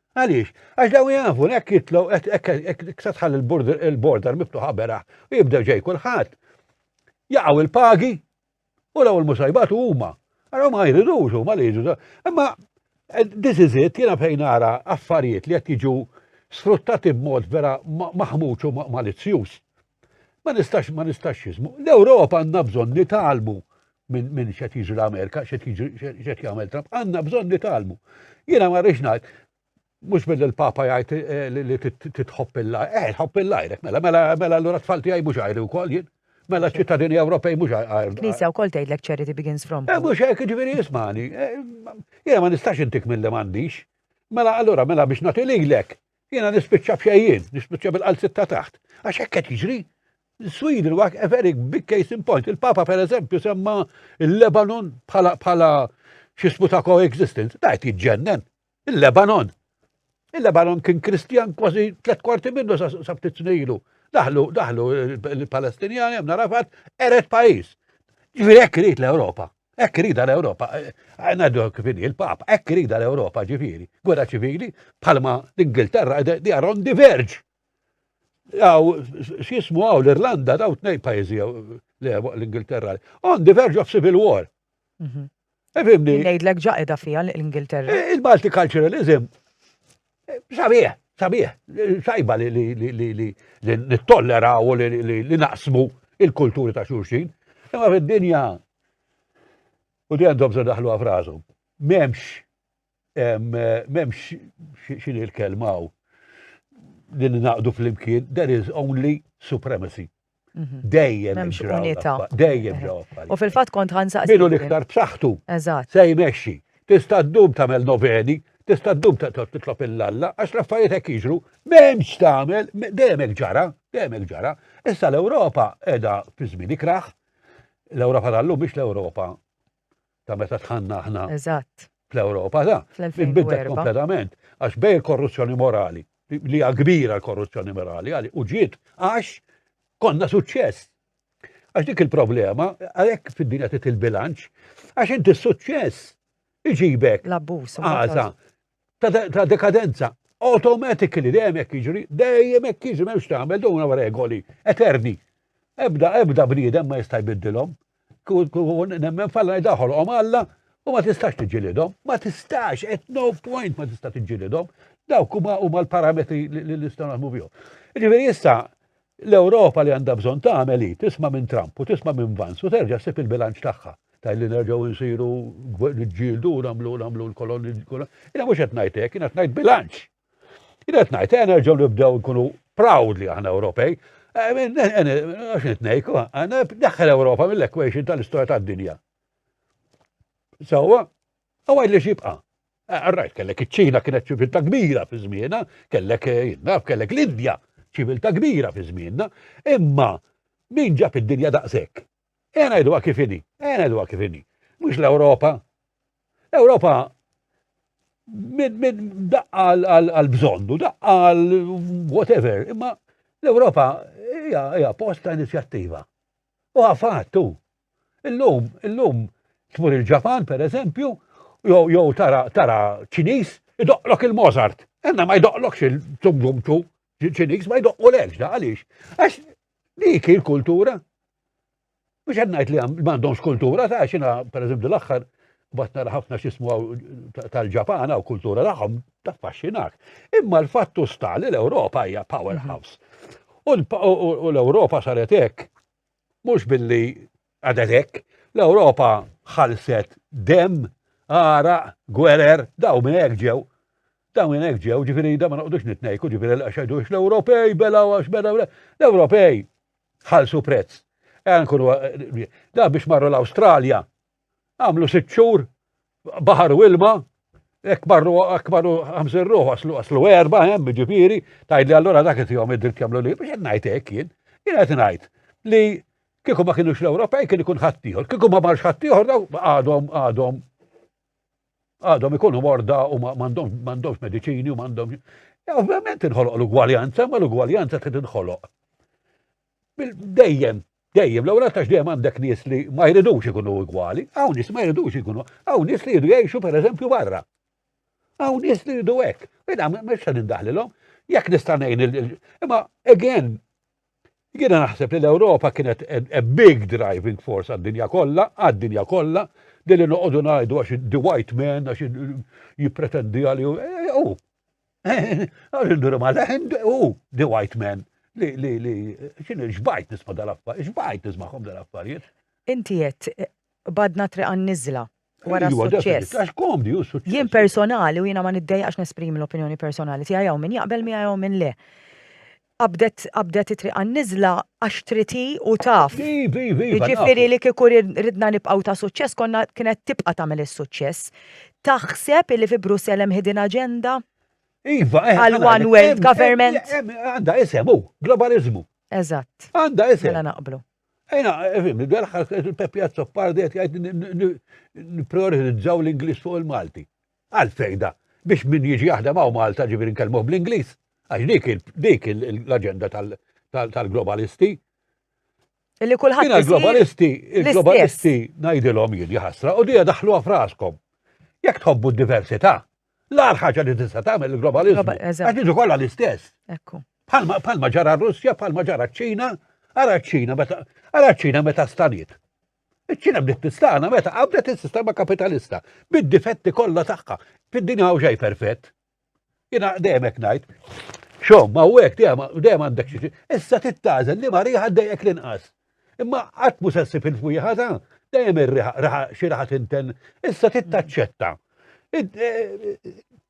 Għaliex? Għax daw jafu li hekk jitlu hekk se tħalli l-border miftuħa beraħ u jibdew ġej kulħadd. Jaqgħu il-pagi u l-ewwel musajbatu huma. Ara ma jridux huma li jiġu. Imma eh, this is it, jiena fejn ara affarijiet li qed jiġu sfruttati b'mod vera maħmuċ u malizzjuż. Ma nistax, ma nistax jizmu. L-Ewropa għandna bżonn nitalmu minn min xed jiġri l-Amerika, xed jagħmel Trump, għandna bżonn nitalmu. Jiena ma rridx ngħid, mhux billi l-Papa jgħid eh, li titħobb il-lajr, eh, tħobb il-lajr, mela, mela, mela l-ura tfal tiegħi mhux għajri wkoll jien. Mela ċittadini Ewropej mhux għajr. Knisja wkoll tgħidlek charity begins from. Eh, mhux hekk ġifieri jismani. Eh, jiena ma nistax intik mill-li m'għandix. Mela allura mela biex nagħti lilek Jiena nispiċċa b'xejjien, nispiċċa bil-qalziet ta' taħt. Għax hekk qed jiġri. Sweden huwa a very big case in point. Il-Papa per eżempju semma il-Lebanon bħala bħala xismu ta' coexistence. Da qed jiġġennen. Il-Lebanon. Il-Lebanon kien Kristjan kważi tliet kwarti minnu sa ftit snilu. Daħlu, daħlu il-Palestinjani, għamna rafat, eret pajis. Ġviri hekk rrit l-Ewropa. Ekk rida l-Ewropa, eh, eh, ngħidu kif inhi l-Papa, ekk rida l-Ewropa ġifieri, gwerra ċivili bħalma l-Ingilterra di aron diverġ. Għaw, x'jismu għaw l-Irlanda daw tnej pajjiżi l-Ingilterra. On diverġ of civil war. Mhm. Efimni. Ngħidlek ġaqeda fija l-Ingilterra. Eh, Il-multiculturalism Sabiħ, sabiħ, sajba li nittollera u li naqsmu il-kulturi ta' xurxin. Imma fid-dinja, u di għandhom se daħlu għafrażu, memx, memx xin il-kelmaw li naqdu fl-imkien, there is only supremacy. Mhm. Dejjem. Memx unita. Dejjem ġewwa Pali. U fil-fatt kont ħansaqsi. Minu l-iktar b'saħħtu. Eżatt. Se jmexxi. Tista' ddum tagħmel noveni, tista' ddum titlob il-lalla, għax l-affarijiet hekk jiġru, m'hemmx tagħmel, dejjem hekk ġara, dejjem hekk ġara. Issa l-Ewropa qiegħda fi żmien ikraħ, l-Ewropa tal-lum biex l-Ewropa ta' meta tħanna aħna. Eżatt. Fl-Ewropa, da. Fl-2004. Kompletament, għax bej il-korruzzjoni morali, li hija kbira l-korruzzjoni morali, għali, u ġiet għax konna suċċess. Għax dik il-problema, għalhekk fid-dinja tit il-bilanċ, għax inti suċċess iġibek. L-abbuż. Għaża. ta' dekadenza. Automatically, dejjem hekk jiġri, dejjem hekk jiġri m'hemmx tagħmel duna regoli eterni. Ebda, ebda bniedem ma jista' jbiddilhom. Nemmen falla jdaħolhom Alla u ma tistax tiġilidhom, ma tistax, at no point ma tista' tiġilidhom. Dawk huma huma l-parametri li nistgħu naħdmu bihom. Ġifieri issa L-Ewropa li għandha bżonn tagħmel hi tisma' minn Trump u tisma' minn Vance u terġa' ssib il-bilanċ tagħha. Tgħid li nerġgħu insiru niġġieldu u nagħmlu nagħmlu l-kolonji Jiena mhux qed ngħid hekk, jiena qed ngħid bilanċ. Jiena qed ngħid ejja nerġgħu nibdew nkunu proud li aħna Ewropej. Għax nitnejk, daħħel Ewropa mill-equation tal-istorja tad-dinja. Sewwa, Għawaj li xibqa. Għarrajt, kellek iċ-ċina kienet ċivilta kbira fi zmiena, kellek eh, jinnaf, kellek l-Indja ċivilta kbira fi zmienna, imma min ġab id-dinja daqshekk. Ena jdu kifini, ena jdu kifini. Mux l-Europa. L-Europa minn daqqa għal-bżondu, daqqa għal-whatever, imma l-Europa hija post ta' inizjattiva. U għafat tu, Illum, illum tmur il-Ġapan per eżempju, jew jew tara tara Ċiniż idoqlok il-Mozart. Enna ma jdoqlokx il-Tumgumtu Ċiniż ma jdoqqu l-ekx da għaliex. Għax dik il-kultura. Mhux qed ngħid li m'għandhomx kultura ta' xina per eżempju l-aħħar bat nara ħafna xismu tal-Ġapana u kultura tagħhom taffaxxinak. Imma l-fattu sta li l-Ewropa hija powerhouse. U l-Ewropa saret hekk Mhux billi għaded hekk, l-Ewropa ħalset dem, għara, gwerer, daw minn hekk ġew. Daw minn hekk ġew, ġifieri da ma noqgħodux nitnejku, ġifieri l-qaxedux l-Ewropej bela għax bela l-Ewropej ħalsu prezz. Da biex marru l-Awstralja, Għamlu sitt xhur, baħar u ilma, Ek marru, ek marru għamżir ruħu, għaslu għaslu erba, hemm eh, ġifiri, tajt li għallura dak jtijom id-dritt jamlu li, biex najt ek jien, jien għet najt li kieku ma kienux l-Ewropej kien ikun ħattijħor, kieku ma marx ħattijħor daw għadhom għadhom għadhom ikunu morda u mandomx medicini u mandomx. Ovvjament inħoloq l-ugwaljanza, ma l-ugwaljanza trid inħoloq. Dejjem, dejjem, l-ewwel għax dejjem għandek nies li ma jridux ikunu igwali, hawn nies ma jridux ikunu, hawn nies li jridu jgħixu pereżempju barra. Hawn nies li jridu hekk, mela mhux se nindaħlilhom, jekk nista' ngħin imma again jiena naħseb li l-Ewropa kienet a big driving force għad-dinja kollha, għad-dinja kollha, li li noqogħdu ngħidu għax the white man għax jippretendi għalih eh, u. Għarindu rima leħen u The White Man li li li xin xbajt nisma dal-affarijiet, xbajt nismahom dal-affarijiet. Inti jett, badna triqan nizla wara iva, s-suċċess. Għax komdi u suċċess. Jien personali u jiena ma niddejqax nesprimi l-opinjoni personali tiegħi hawn min jaqbel miegħi hawn min le. Qabdet qabdet it-triq għan-niżla għax trid hi u taf. Iva, iva, iva. Jiġifieri li kieku ridna nibqgħu ta' suċċess konna kienet tibqa' tagħmel is-suċċess. Taħseb illi fi Brussell hemm hidden agenda? Iva, eh. Għal one world government. Għandha isem hu, globaliżmu. Eżatt. Għandha isem. Mela naqblu. Ejna, fim, il-għalħas il-Peppi Azzopardi għet jgħid n-prioritizzaw l-Inglis fuq il-Malti. Għal fejda, biex min jiġi jaħdem hawn Malta ġifieri nkellmuh bl-Ingliż, għax dik dik l-aġenda tal-globalisti. Li kulħadd. Jiena l-globalisti, il-globalisti ngħidilhom jien jaħasra u dija daħluha fraskom. Jekk tħobbu d-diversità, l-għar ħaġa li tista' tagħmel il-globalizmu. Għax jiġu kollha l-istess. Ekku. Palma ġara r-Russja, palma ġara ċ-Ċina, ara ċ-Ċina meta ara ċ-Ċina meta staniet. Iċ-Ċina bdiet tistana meta qabdet is-sistema kapitalista bid-difetti kollha tagħha. Fid-dinja hawn xejn perfett. Jiena dejjem hekk ngħid. Xom, ma hekk dejjem għandek xi issa tittażel li ma riħa dejjek l-inqas. Imma qatt mhux se ssib il-fwieħa ta' dejjem ir-riħa xi raħa tinten. Issa tittaċċetta. E,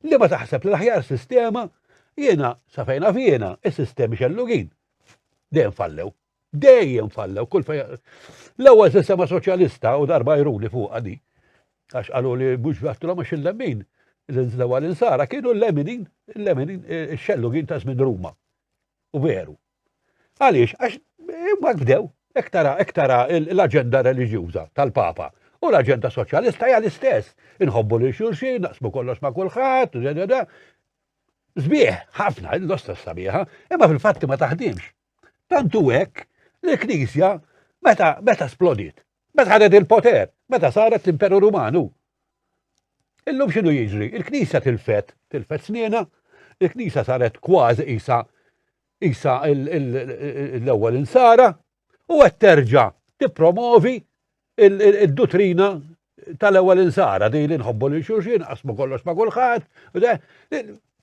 li ma taħseb li l-aħjar sistema jiena sa fejna fjena is-sistemi xellugin dejjem fallew. Dejjem fallew, kull fej. L-ewwel sistema soċjalista u darba jruli fuq għadi. Għax qalu li mhux għattilhom għax il-lemmin li nżlew għal insara kienu l-leminin, l-leminin, eh, xellugin ta' żmien Ruma. U veru. Għaliex, għax eh, ma bdew, ektara, ektara l-agenda religjuza tal-Papa. U l-agenda soċjalista hija l-istess. Inħobbu li xulxin, naqsmu kollox ma' kulħadd, Zbieħ, ħafna, l-osta sabiħa, imma fil-fatti ma taħdimx. Tant u hekk li l-Knisja meta meta splodiet, meta ħadet il-poter, meta saret l-Imperu Rumanu. Illum x'inhu jiġri? Il-Knisja tilfet, tilfet snina, il-Knisja saret kważi isa isa l-ewwel insara u qed terġa' tippromovi Id-duttrina tal-ewwel insara di li nħobbu lil xulxin, qasmu kollox ma' kulħadd,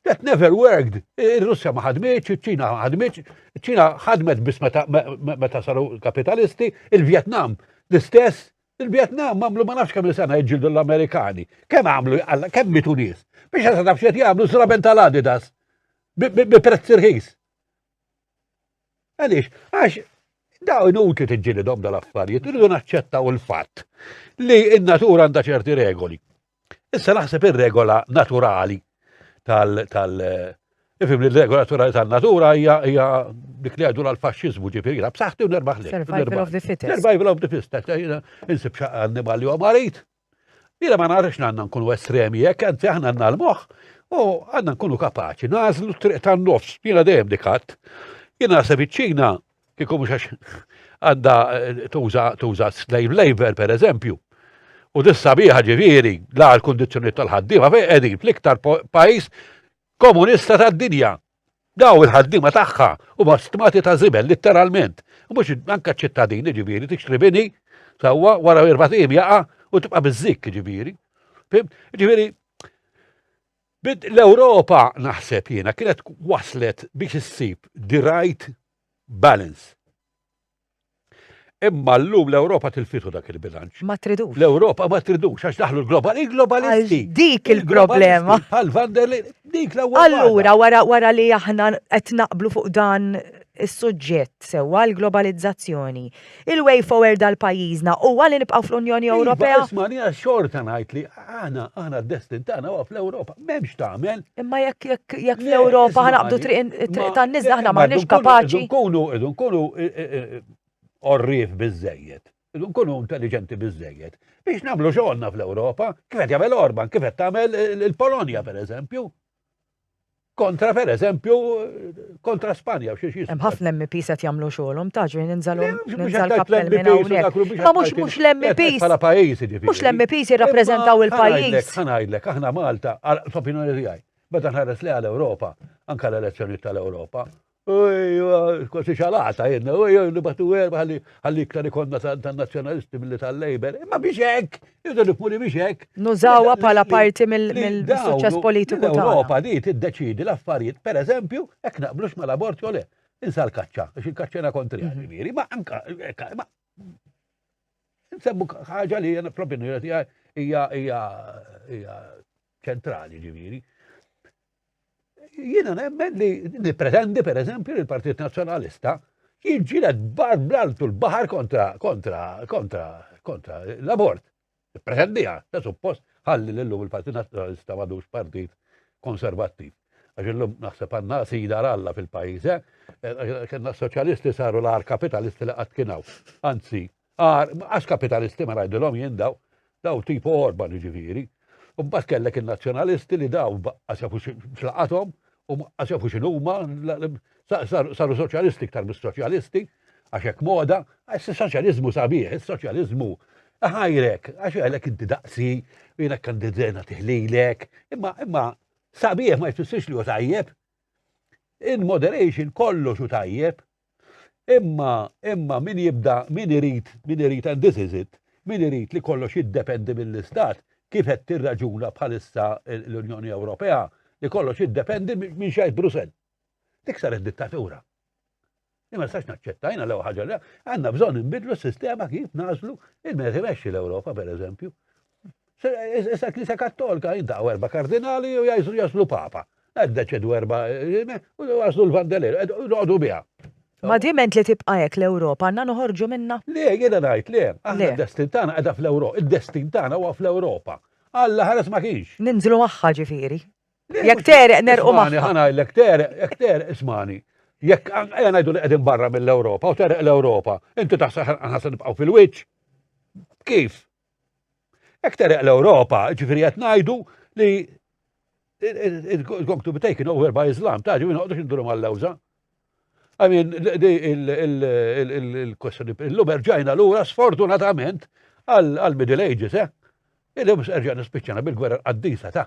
that never worked. Ir-Russja ma ħadmitx, iċ-Ċina ma ħadmitx, iċ-Ċina ħadmet biss meta saru kapitalisti, il-Vjetnam l-istess, il-Vjetnam għamlu ma nafx kemm sena jġildu l-Amerikani. Kemm għamlu, kemm mitu nies. Biex għasa taf xed jgħamlu zraben tal-Adidas. Bi prezz irħis. Għaliex, għax daw inutli tiġġilidhom dal-affarijiet, irridu naċċettaw il-fatt li n-natura għandha ċerti regoli. Issa naħseb ir-regola naturali tal- tal- Ifim li l-regola naturali tal-natura hija hija dik li għadu l-faxxiżmu ġifieri jiena b'saħħti u nerbaħ li. Survival of the fittest. Survival of the fittest, insib xaqqa annimali u marit, Jiena ma narax li għandna nkunu estremi hekk, anzi aħna għandna l-moħħ u għandna nkunu kapaċi nagħżlu t-triq tan-nofs. Jiena dejjem dik għadd. Jiena naħseb iċ-Ċina kieku mhux għax għandha tuża tuża slave labor pereżempju. U dissa biha ġifieri la l-kundizzjonijiet tal-ħaddiema fejn qegħdin fl-iktar pajjiż komunista tad-dinja. Daw il-ħaddiema tagħha huma stmati ta' żibel litteralment. Mhux anke ċittadini ġifieri tixtri bini sewwa wara erba' tim jaqa' u tibqa' biżżikk ġifieri. Ġifieri l-Ewropa naħseb jiena kienet waslet biex issib the right balance. Imma llum l-Ewropa tilfitu dak il-bilanċ. Ma tridux. L-Ewropa ma tridux għax daħlu l-global, il-globalisti. Dik il-problema. Pal van der Leyen, dik l-ewwel. Allura wara wara li aħna qed naqblu fuq dan is-suġġett sewwa l-globalizzazzjoni. Il-way forward għal pajjiżna huwa li nibqgħu fl-Unjoni iva, Ewropea. Isma' xorta ngħid li Aħna, aħna d-destin tagħna huwa fl-Ewropa, m'hemmx tagħmel. Imma jekk jekk jekk fl-Ewropa ħanaqbdu triq tan-nies aħna m'aħniex kapaċi. Nkunu idu nkunu orrif biżejjed, idu nkunu intelligenti biżejjed biex nagħmlu xogħolna fl-Ewropa, kif qed jagħmel Orban, kif qed tagħmel il-Polonja pereżempju. Kontra per eżempju, kontra Spanja u xiex Hemm ħafna MPs qed jagħmlu xogħolhom ta' ġri ninżalu ninżal kappell minn hawnhekk. Ma mhux mhux l-MPs. Bħala pajjiż jiġifieri. Mhux l-MPs jirrappreżentaw il-pajjiż. Ħanajdlek, aħna Malta, f'opinjoni tiegħi, meta nħares li għal Ewropa, anke l-elezzjonijiet tal-Ewropa, Kważi xalata jedna, u jew nibatu erba għalli iktar ikonna tan-nazzjonalisti mill tal-Labor. Ma biex hekk, irdu nifmuli biex hekk. Nużawha bħala parti mill-suċċess politiku ta' Ewropa di tiddeċidi l-affarijiet, per eżempju, hekk naqblux mal-abort jew le. Insa l-kaċċa, għax il-kaċċena kontrija, mhm. ġifieri, ma anka, ma. Nsemmu ħaġa li jena fl-opinjoni hija ċentrali ġifieri. Jiena nemmen li nippretendi per eżempju li l-Partit Nazzjonalista jiġġieled bar blaltu l-baħar kontra kontra kontra kontra l-abort. Nippretendiha, ta' suppost ħalli l lum il-Partit Nazzjonalista madux partit konservattiv. Għax illum naħseb għandna sida ralla fil-pajjiż, eh? eh kellna soċjalisti saru l-ar kapitalisti li qatt kienaw. Anzi, Għar, għax kapitalisti ma ngħidilhom jien daw, daw tipu Orban jiġifieri. U mbagħad kellek in-nazzjonalisti li daw baqqas jafu x'laqathom u baqqas jafu x'inhuma, saru soċjalisti iktar mis-soċjalisti, għax hekk moda, għax is-soċjaliżmu sabiħ, is-soċjaliżmu ħajrek, għax għalek inti daqsi, jiena kandidena tiħlilek, imma imma sabiħ ma jfissirx li hu tajjeb. In moderation kollox u tajjeb, Imma, imma min jibda, min irid, min irid, and this is it, min irid li kollox jiddependi mill-Istat, kif qed tirraġuna bħalissa l-Unjoni Ewropea, li kollox jiddependi minn xejn Brussell. Dik saret dittatura. Imma sax naċċettajna l ħaġa li għandna bżonn inbidlu s-sistema kif nażlu il-mezzi l-Ewropa, per eżempju. Issa Knisja Kattolka jiddaw erba' kardinali u jgħidu jaslu papa. Qed deċedu erba' u jaslu l-vandelir, noqogħdu biha. Ma diment li tibqa' hekk l-Ewropa għandna noħorġu minnha? Le, jiena ngħid le, aħna d-destin tagħna qiegħda fl-Ewropa, id-destin tagħna huwa fl-Ewropa. Alla ħares ma kienx. Ninżlu magħha ġifieri. Jekk tereq nerqu magħha. Ismani, ħanajlek tereq, jekk tereq ismani. Jekk ejja ngħidu li qegħdin barra mill-Ewropa u tereq l-Ewropa, inti taħseb aħna se nibqgħu fil-wiċċ? Kif? Hekk tereq l-Ewropa, ġifieri qed ngħidu li it's going to be taken over by Islam, ta' ġifieri noqgħodux induru mal-lewża. I mean, il-kwestjoni, l-lum erġajna l-ura sfortunatament għal-Middle Ages, eh? Il-lum erġajna spiċċana bil-gwerra qaddisa ta'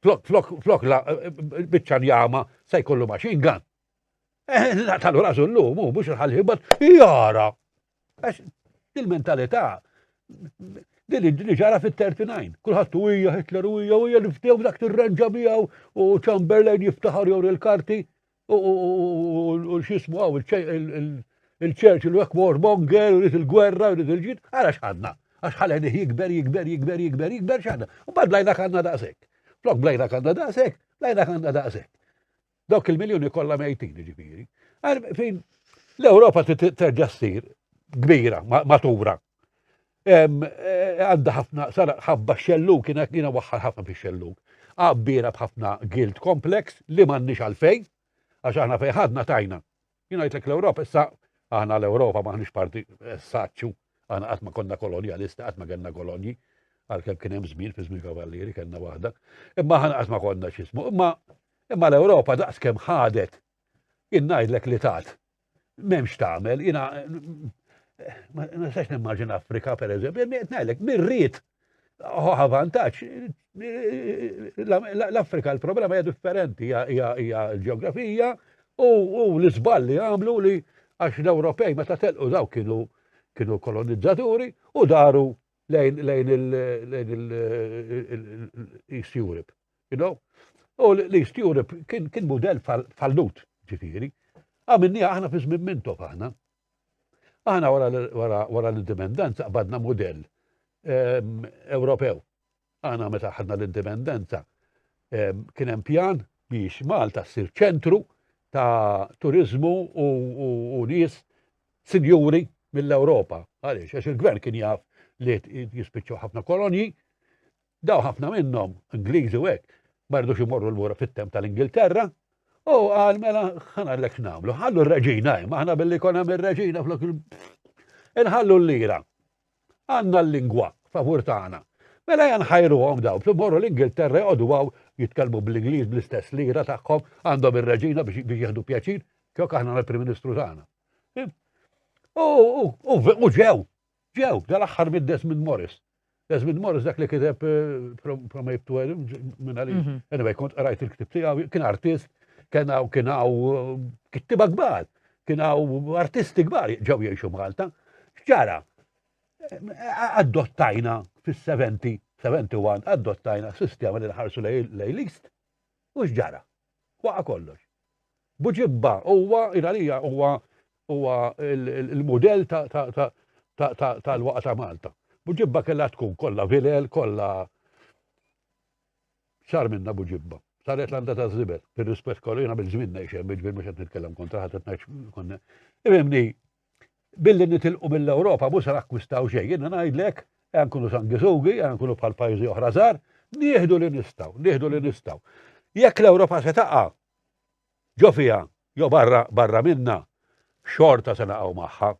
Flok, flok, flok, la, bicċa njama, se jkollu machine gun. Eh, la, tal-ura zullu, mu, mux il-ħalħibat, jara. Għax, il-mentalità, din li ġara fit-39, kullħat u hija Hitler u hija u hija niftew dak tirrenġa miegħu u Chamberlain jiftaħar jew il-karti, U xismu għaw il-ċerċ il wek war monger, u il-gwerra, u il-ġid, għara xħadna. Għax ħaleni jikber, jikber, jikber, jikber, jikber xħadna. U bad lajna kanna daqsek. Flok blajna kanna daqsek, lajna kanna daqsek. Dawk il-miljoni kollha mejtin ġifieri. Fejn l-Ewropa terġa' ssir kbira, matura, Għandha ħafna, sara ħafba xelluk, kiena kiena waħħar ħafna fi xelluk. Għabbira bħafna guilt complex li m'għandniex għalfejn, għax aħna fejn ħadna tajna. Jien għajtlek l-Ewropa, issa aħna l-Ewropa maħniex parti eh, saċċu, aħna qatt ma konna kolonjalisti, qatt ma kellna kolonji, għalkemm kien hemm żmien fi żmien kavallieri kellna waħda. Imma aħna qatt ma konna x'ismu, imma imma l-Ewropa daqskemm ħadet, jien ngħidlek li tat M'hemmx tagħmel, jiena ma nistax nimmaġina Afrika pereżempju, ngħidlek mirrid ħoħa vantaġġ. L-Afrika l-problema hija differenti, hija l-ġeografija u l-iżball li għamlu li għax l-Ewropej meta telqu daw kienu kienu kolonizzaturi u daru lejn il-East Europe. You know? U l-East Europe kien, kien model fallut, ġifiri. Għamilni aħna fi żmien mintok aħna. Aħna wara l-indipendenza qabadna model ehm, Ewropew. Aħna meta ħadna l-indipendenza ehm, kien hemm pjan biex Malta ssir ċentru ta' turizmu u nies sinjuri mill-Ewropa. Għaliex, għax il-gvern kien jaf li jispiċċaw ħafna kolonji, Dawn ħafna minnhom, Ingliżi u hekk, ma ridux imorru lura fit-temp tal-Ingilterra, u qal mela ħana l nagħmlu, ħallu r-reġina hemm, aħna billi jkun hemm ir-reġina flok il Inħallu l-lira. Għandna l-lingwa favur tagħna. Mela jan ħajruhom daw, fl morru l-Ingilterra jgħodu għaw jitkellmu bl-Ingliż bl-istess lira tagħhom għandhom ir-reġina biex jieħdu pjaċir, kjok aħna l-Prim Ministru tagħna. U ġew, ġew, dal-aħħar middes minn Morris. Desmond Morris dak li kiteb From Ape to Adam, minna li, mhm. anyway, kont rajt il-ktib tiegħu, kien artist, kien hawn kien hawn kittiba kbar, kien hawn artisti kbar ġew jgħixu Malta. Ġara, adottajna fis-70, 71, adottajna sistema li nħarsu lejlist, u x'ġara. Waqa' kollox. Buġibba, huwa, jien għalija huwa huwa l-mudell tal-waqa' ta' Malta. Buġibba kellha tkun kollha vilel, kollha sar minnha Buġibba. Saret landa ta' żibel, bir-rispett kollu jiena mill-żmien ngħix hemm, jiġifieri mhux qed nitkellem kontra ħadd qed ngħid Ifhimni, Billi nitilqu mill-Ewropa mhux se nakkwistaw xejn. Jiena ngħidlek, ejja nkunu sanguisugi, ejja nkunu bħal pajjiżi oħra żgħar, nieħdu li nistgħu, nieħdu li nistgħu. Jekk l-Ewropa se taqa' ġo fiha jew barra barra minnha, xorta se naqgħu magħha.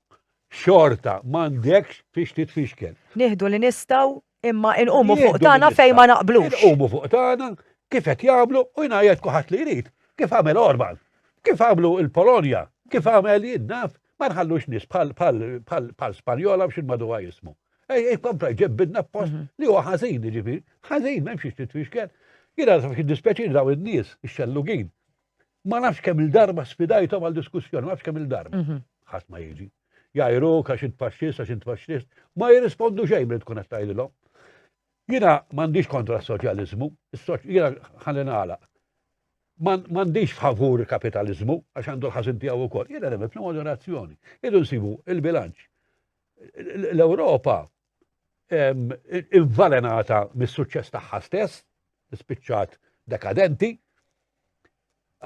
Xorta m'għandekx fiex titfixkel. Nieħdu li nistgħu Imma inqumu fuq tagħna fejn ma naqblux. Inqumu fuq tagħna kif qed jagħmlu u jingħajjed kuħadd li jrid. Kif għamel Orban, kif għamlu il-Polonja, kif għamel jien naf, ma nħallux nies bħal Spanjola b'xi maduha jismu. Ej, ej, kompla ġebbidna post mhm. li huwa ħażin, ġifieri, ħażin m'hemmx xiex titfixkel. Jien għal fik dispjaċir daw in-nies ix-xellugin. Ma nafx kemm il-darba sfidajthom għal diskussjoni, ma nafx kemm il-darba. Mhm. Ħadd ma jiġi. jgħajruk għax int faxxist, għax int faxxist, ma jirrispondu xejn li tkun qed tgħidilhom. Jiena m'għandix kontra s-soċjaliżmu, jiena ħalli nagħlaq. M'għandix favur kapitaliżmu għax għandu l-ħażin tiegħu wkoll. Jiena nemmen fl-moderazzjoni. Idu nsibu il-bilanċ. L-Ewropa il-valenata mis-suċċess tagħha stess, spiċċat dekadenti.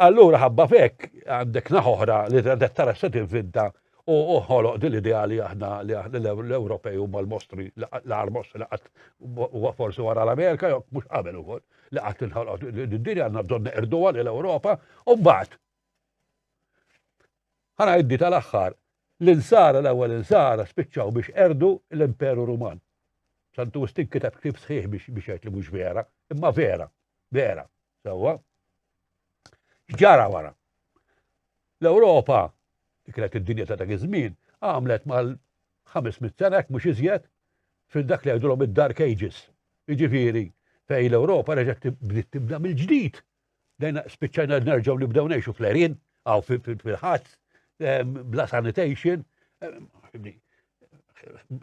Allura ħabba fekk għandek naħoħra li għandek tara se tivvinta u ħoloq din l-idea li aħna li l-Ewropej huma l-mostri l-armos li qatt huwa forsi wara l-Amerika jew mhux qabel ukoll li qatt inħoloq d-dinja għandna bżonn neqrduha lil Ewropa u mbagħad Ħa ngħiddi tal-aħħar li l-Nsara, l-ewwel Insara, spiċċaw biex qerdu l-Imperu Ruman. Santu Wistin kiteb ktieb sħiħ biex biex jgħid li mhux vera, imma vera, vera, sewwa. X'ġara wara? L-Ewropa, li kienet id-dinja ta' dak iż-żmien, għamlet mal-500 sena hekk mhux iżjed fil dak li jgħidulhom id-Dark Ages. Jiġifieri fejn l-Ewropa reġgħet bdiet tibda mill-ġdid Dejna spiċċajna nerġgħu nibdew ngħixu fl-erin, għaw fil-ħadd, bla sanitation.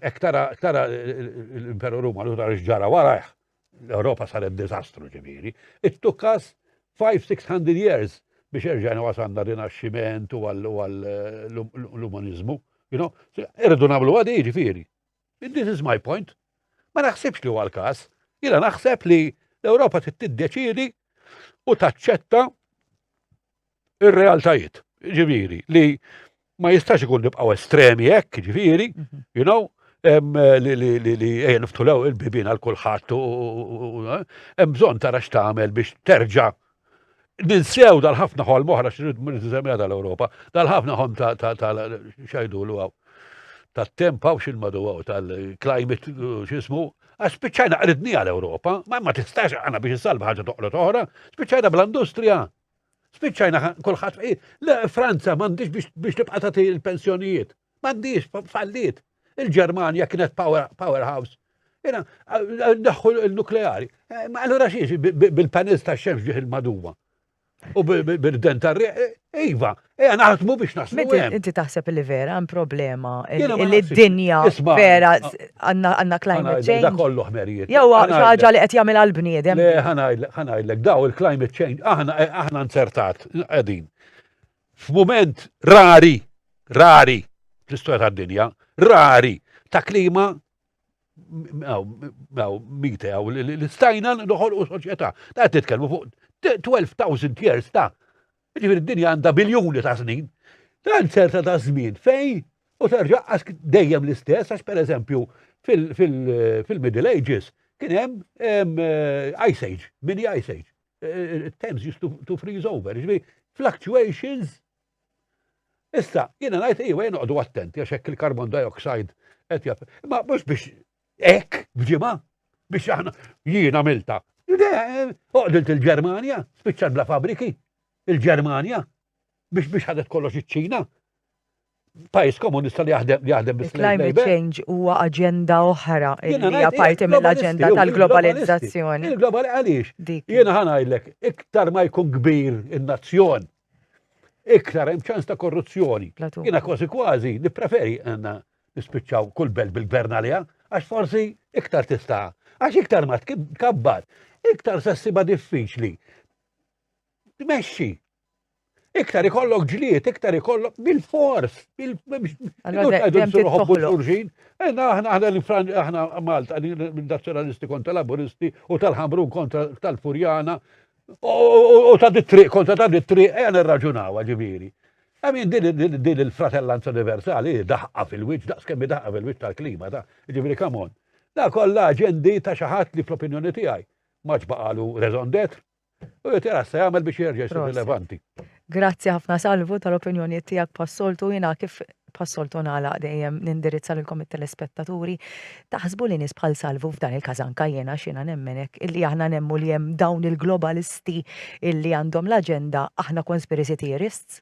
Ek tara l-Imperu Ruma, l tara ġara warajh, l-Europa saret dizastru ġiviri. It took us 5-600 years biex erġajna wasanna rinaxximent u għall-umanizmu. Irridu namlu għadi ġifiri. This is my point. Ma naħsibx li huwa l-każ. Jiena naħseb li l-Ewropa trid tiddeċiedi u taċċetta ir-realtajiet. Ġifieri li ma jistax ikun nibqgħu estremi hekk, ġifieri, mhm. you know, li ejja niftulew il-bibin għal kulħadd u eh, hemm bżonn tara x'tagħmel biex terġa' Ninsew dal-ħafna ħolm oħra xrid niżemmija tal-Ewropa, dal-ħafna ħolm tal-xajdu l għaw tal-temp għaw xil-madu għaw tal-climate xismu, għax spiċċajna qridni għal-Ewropa, ma ma tistax għana biex salva ħagġa toqgħod oħra, spiċċajna bl-industrija, spiċċajna kulħadd Franza m'għandix biex tibqa' tagħti l-pensjonijiet. M'għandhiex, falliet. Il-Ġermanja kienet powerhouse. Jena, daħħu l-nukleari. Eh, ma allura xiex bil-panels ta' xemx ġieħ il-maduwa. U bil-den ta' riq, eh, iva, eja naħdmu biex naslu. Inti taħseb li vera għan problema li d-dinja vera għanna climate change. Da kollu ħmerijiet. Jew ħaġa li qed jagħmel għall-bniedem. Le ħanajlek daw il-climate change aħna nzertat qegħdin. F'mument rari, rari fl-istorja tad-dinja, rari ta' klima mite għaw li stajna noħolqu soċjetà. Ta' titkellmu fuq 12,000 years ta' ġifir id-dinja għandha biljuni ta' snin. Dan ċerta ta' żmien fej u terġa' dejjem l-istess għax pereżempju fil-Middle Ages kien hemm eh, Ice Age, mini Ice Age. Times used to, to freeze over, ġvi, fluctuations. Issa, jina najt, iwa jina għadu attenti, għax hekk il-carbon dioxide qed jaf. Ma mhux biex hekk f'ġimgħa biex aħna jiena milta. Oqdilt il-Ġermanja, spiċċat bla fabriki. Il-Ġermanja, biex biex ħadet kollox iċ-Ċina. Pajis komunista li jaħdem li jaħdem bis Climate change huwa aġenda oħra li hija parti mill-aġenda tal-globalizzazzjoni. Il-globali għaliex? Jiena ħanajlek, iktar ma jkun kbir in-nazzjon, iktar hemm ċans ta' korruzzjoni. Jiena kważi kważi nippreferi għandna nispiċċaw kull belt bil-gvern għaliha għax forsi iktar tista' għax iktar ma tkabbar, iktar sessiba diffiċli tmexxi. Iktar ikollok ġliet, iktar ikollok bil-fors, bil-xurxin. Enna aħna aħna Malta, nazzjonalisti kontra laburisti u tal-ħamrun kontra tal-furjana u ta' dit-triq kontra ta' dit-triq, għan irraġunaw ġiviri. Għamin din il-fratellanza universali daħqa fil-wiċ, daqs kemmi daħqa fil-wiċ tal-klima, ta' ġiviri kamon. Da kolla ġendi ta' xaħat li fl-opinjoni tijaj maġbaqalu rezondet, U jgħid jara se jagħmel biex jerġa' jsir rilevanti. Grazzi ħafna Salvu tal-opinjonijiet tiegħek pas-soltu jiena kif pas-soltu nagħlaq dejjem nindirizza lilkom it-telespettaturi. Taħsbu li nies bħal Salvu f'dan il-każ anke jiena x'jiena nemmen hekk illi aħna nemmu li hemm dawn il-globalisti illi għandhom l-aġenda aħna conspiracy theorists?